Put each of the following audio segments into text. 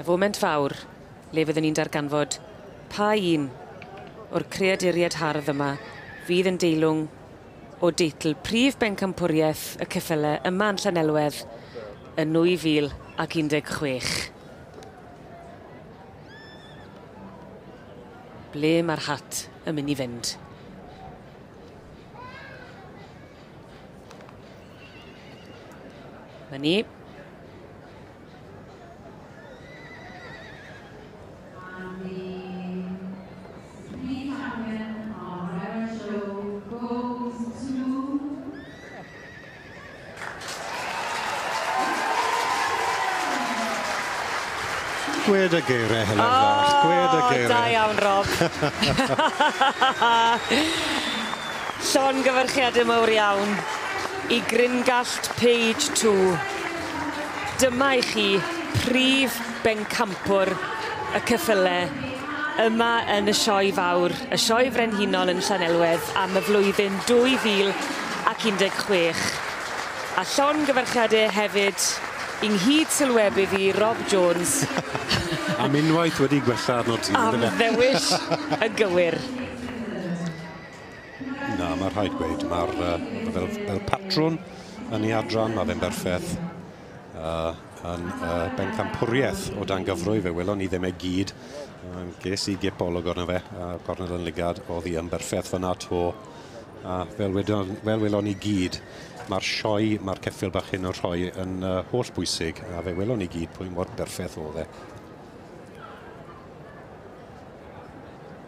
Y foment fawr le fyddwn ni'n darganfod pa un o'r creaduriaid hardd yma fydd yn deilwng o deitl prif bencampwriaeth y ceffyle yma yn Llanelwedd yn 2016. Ble mae'r hat yn mynd i fynd? Mae ni. Gwed y geiriau hynny oh, fach. Gwed y geiriau. Da iawn, Rob. Llon gyfyrchiad y mawr iawn i Gringallt Page 2. Dyma i chi prif bencampwr y ceffyle yma yn y Sioe Fawr, y Sioe Frenhinol yn Llanelwedd am y flwyddyn 2016. A llongyfarchiade hefyd i nghyd-sylwebydd i Rob Jones. Am unwaith wedi gwella arnot ti, yndyfe? Am ddewis yn gywir. Na, mae rhaid gweud, mae'r uh, fel, fel patrwn yn ei adran, mae fe'n berffaith. Uh, yn uh, bencampwriaeth o dan gyfrwy, fe welon ni ddim e gyd. Uh, ges i gip olwg arno fe, uh, cornel yn ligad, oedd hi yn berffaith fyna to. Uh, fel, wedon, fel welon ni gyd, mae'r sioe, mae'r ceffil bach hyn yn rhoi yn uh, holl bwysig, a fe welon ni gyd pwy mor berffaith oedd e.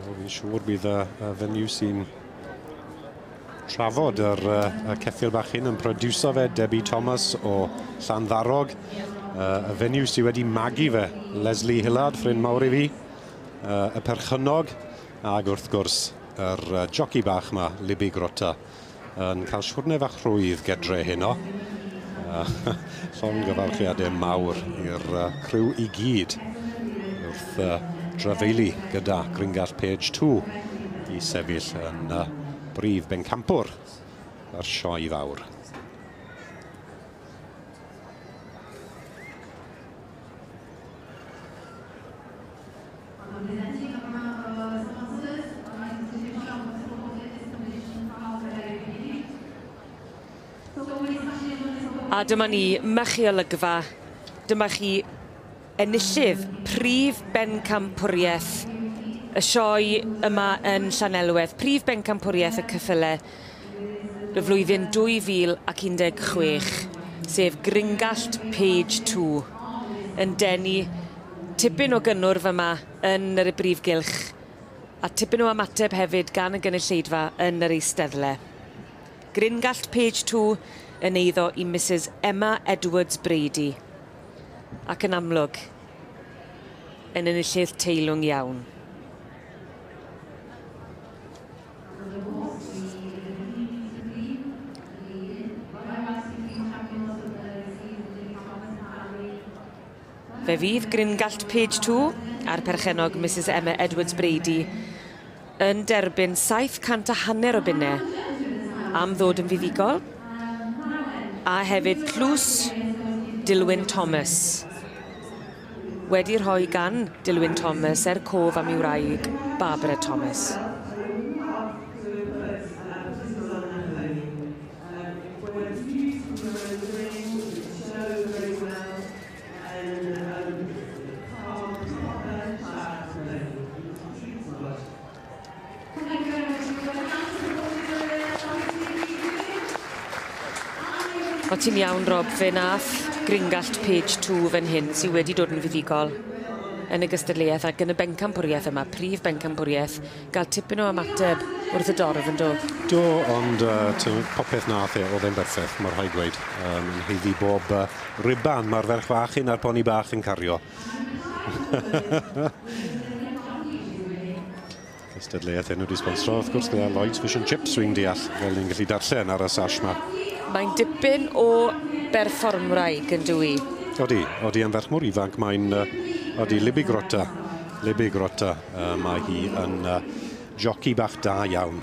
Wel, fi'n siŵr bydd y, y fenyw sy'n trafod yr, y ceffil bach hyn yn produso fe, Debbie Thomas o Llanddarog. Uh, y fenyw sydd wedi magu fe, Leslie Hillard, ffrind mawr i fi, uh, y perchynog, ac wrth gwrs, yr uh, joci bach ma, Libby Grota. yn cael siwrne fach rhwydd gedre heno. Uh, llongyfarchiadau mawr i'r uh, criw i gyd wrth uh, drafeili gyda Gringall Page 2 i sefyll yn uh, brif bencampwr yr sioe fawr. A dyma ni, mychi olygfa, dyma chi enillydd prif bencampwriaeth y sioe yma yn Llanelwedd, prif bencampwriaeth y cyffyle. y flwyddyn 2016, sef Gringallt Page Two, yn denu tipyn o gynnwrf yma yn yr y brif gylch, a tipyn o ymateb hefyd gan y gynulleidfa yn yr eisteddle. Gringallt Page Two yn eiddo i Misus Emma Edwards Brady, ac yn amlwg, yn enillydd teilwng iawn. Yn y bws i i'r Prif Ysbyty, Lŷn, roeddais i fyw Champions of the Received the Daily Thomas and Family. Fe fydd Gringallt Page 2 a'r perchennog Mrs Emma Edwards Brady yn derbyn 700 a hanner o bunne am ddod yn fuddugol a hefyd tlws Dilwyn Thomas. Wedi rhoi gan Dilwyn Thomas er cof am ei wraig, Barbara Thomas. O ti'n iawn Rob, fe nath gringallt page two fan hyn sydd wedi dod yn fuddugol yn y gystadleuaeth ac yn y bencampwriaeth yma, prif bencampwriaeth, gael tipyn o ymateb wrth y dorf yn do? Do, ond uh, popeth nath e, oedd e'n berffeth, mor rhaid gweud, um, yn heiddi bob uh, riban mae'r ferch fach hyn a'r poni bach yn cario. Cystadleuaeth enw di sponsro, wrth gwrs, gyda Lloyds Fish and Chips, fi'n deall, fel ni'n gallu darllen ar y sash ma. Mae'n dipyn o berfformwraig yn dwi. Odi, odi am ferch mor ifanc, mae'n, uh, odi Libby Grotta, Libby Grotta, uh, mae hi yn uh, joci bach da iawn.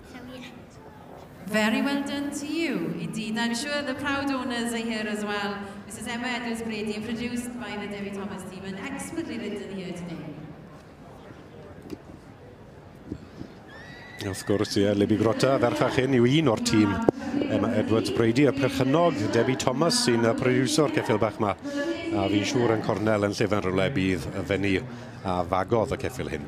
Very well done to you, indeed. I'm sure the proud owners are here as well. Mrs Emma Edwards Brady, produced by the Debbie Thomas team and expertly written here today. Wrth gwrs, ie, Libby Grota, ferchach hyn, yw un o'r tîm Emma Edwards Brady, y perchynog Debbie Thomas sy'n y produso'r ceffil bach yma. A fi'n siŵr yn cornel yn llefen rhywle bydd y fenni a fagodd y ceffil hyn.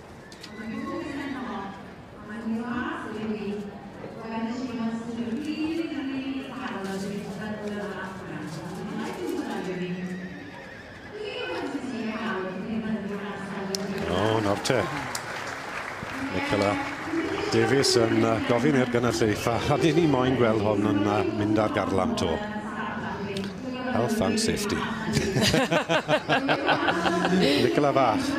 Davies yn yy gofyn i'r gynulleidfa a 'dyn ni moyn gweld hwn yn yy mynd ar garlam 'to. Health and safety. Nicola fach.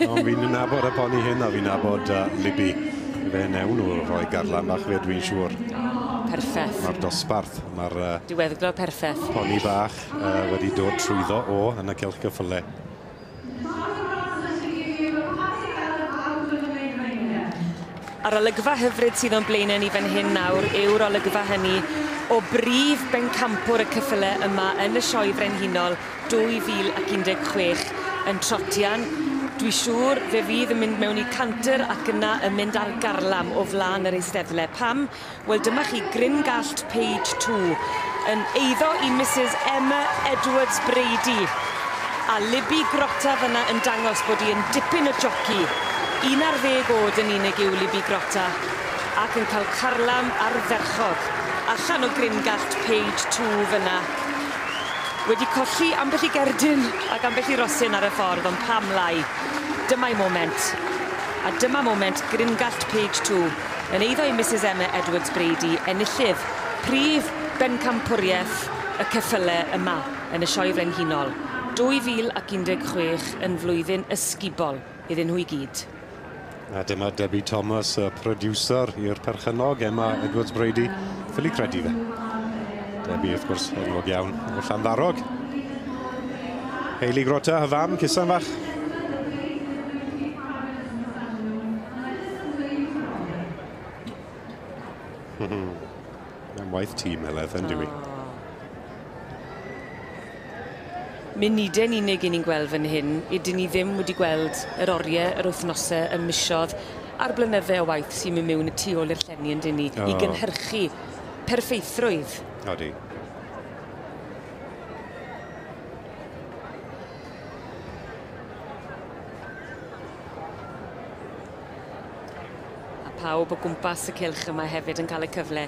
Ond fi'n nabod y poni hyn a fi'n nabod uh, Libby. Fe newn nhw rhoi garlan bach fe, dwi'n siŵr. Perffaith. Mae'r dosbarth, mae'r... Uh, Diweddglo perffaith. Poni bach uh, wedi dod trwyddo o yn y celch gyffyle. A'r olygfa hyfryd sydd o'n blaenau ni fan hyn nawr yw'r olygfa hynny o brif bencampwr y cyffyle yma yn y Sioe Frenhinol 2016 yn Trotian. Dwi siŵr fe fydd yn mynd mewn i canter ac yna yn mynd ar garlam o flan yr Eisteddle. Pam? Wel dyma chi gryn gallt page two yn eiddo i Mrs Emma Edwards Brady a Libby Grotta fyna yn dangos bod hi yn dipyn o joci. Un ar ddeg oed yn unig yw Libby Grotta ac yn cael carlam ardderchog allan o gryn gallt page two fyna. Wedi colli ambell i gerdyn ac ambell i rosyn ar y ffordd ond pam lai. Dyma'i moment. A dyma moment gryn gallt page two. Yn eiddo i Misus Emma Edwards-Brady enillydd prif bencampwriaeth y ceffyle yma yn y Sioe Frenhinol 2016 yn flwyddyn ysgubol iddyn nhw i gyd. A dyma Debbie Thomas, y prodiwsar i'r perchennog Emma Edwards-Brady, ffili credu fe. Debbie, wrth gwrs, enwog iawn o Llanddarog. Hayley Grota, y fam, cusan fach. Mae'n waith tîm Heledd, yn dyw 'i. Munude'n unig i ni'n gweld fan hyn, ydyn ni ddim wedi gweld yr orie, yr wythnose, y misodd a'r blynydde o waith sy'n myn' miwn y tu ôl i'r llenni yndyn ni... O. ...i gynhyrchu perffeithrwydd. Odi. A pawb o gwmpas y cylch yma hefyd yn cael y cyfle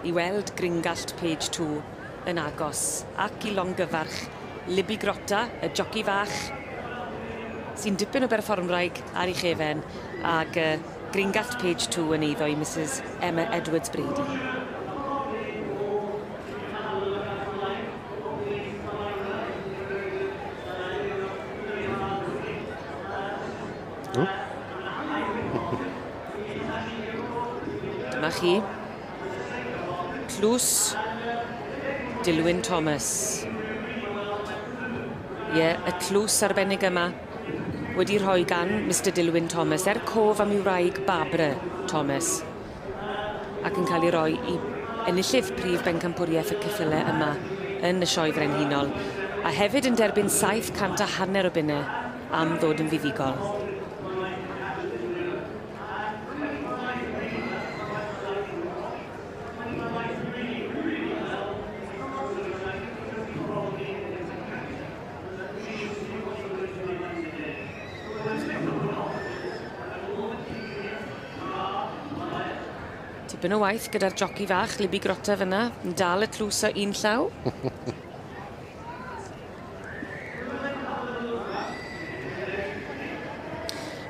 i weld Gringallt Page Two yn agos ac i longyfarch Libby Grotta, y joci fach, sy'n dipyn o berfformwraig ar ei chefen, ag uh, Gringallt Page Two yn eiddo i Mrs Emma Edwards Brady. Dyma chi. Tlws Dilwyn Thomas. Ie, y tlws arbennig yma wedi rhoi gan Mister Dilwyn Thomas er cof am ei wraig Barbara Thomas. ac yn cael ei roi i enillydd prif bencampwriaeth y ceffylau yma yn y Sioe Frenhinol, a hefyd yn derbyn saith cant a hanner o bunnau am ddod yn fuddugol. Tipyn o waith gyda'r joci fach, Libby Grotta fyna, yn dal y tlws o un llaw.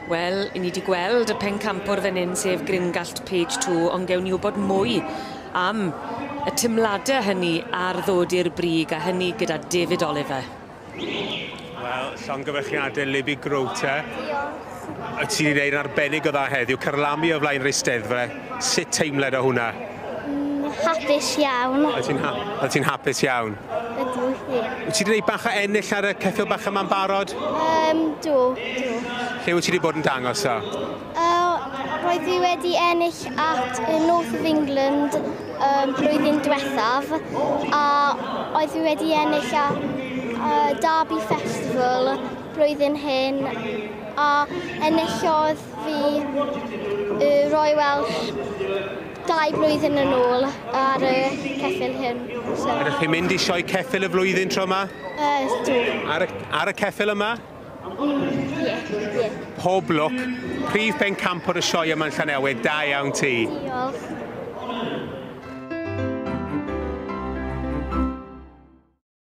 Wel, i ni wedi gweld y pencampwr fan hyn, sef Gringallt Page 2, ond gewn ni wybod mwy am y timladau hynny ar ddod i'r brig, a hynny gyda David Oliver. Wel, llongyfarchiadau Libby Grote. Diolch. Wyt ti wedi gwneud yn arbennig o dda heddiw, carlamu o flaen yr Eisteddfa. Sut teimled o hwnna? Mm, hapus iawn. Wyt ti'n ha ti hapus iawn? Ydw, ie. Wyt ti wedi gwneud bach o ennill ar y ceffil bach yma'n barod? Um, do, do. Lle wyt ti wedi bod yn dangos o? Roedd fi wedi ennill at y North of England um, blwyddyn diwethaf a oedd fi wedi ennill a, a Derby Festival blwyddyn hyn a enillodd fi y Roy Welsh dau blwyddyn yn ôl ar y ceffil hyn. So. Ydych chi'n mynd i sioe ceffil y flwyddyn tro yma? Uh, Ar y, ar y ceffil yma? Pob lwc. Prif bencampwr y sioe yma yn Llanewig, da iawn ti. Diolch.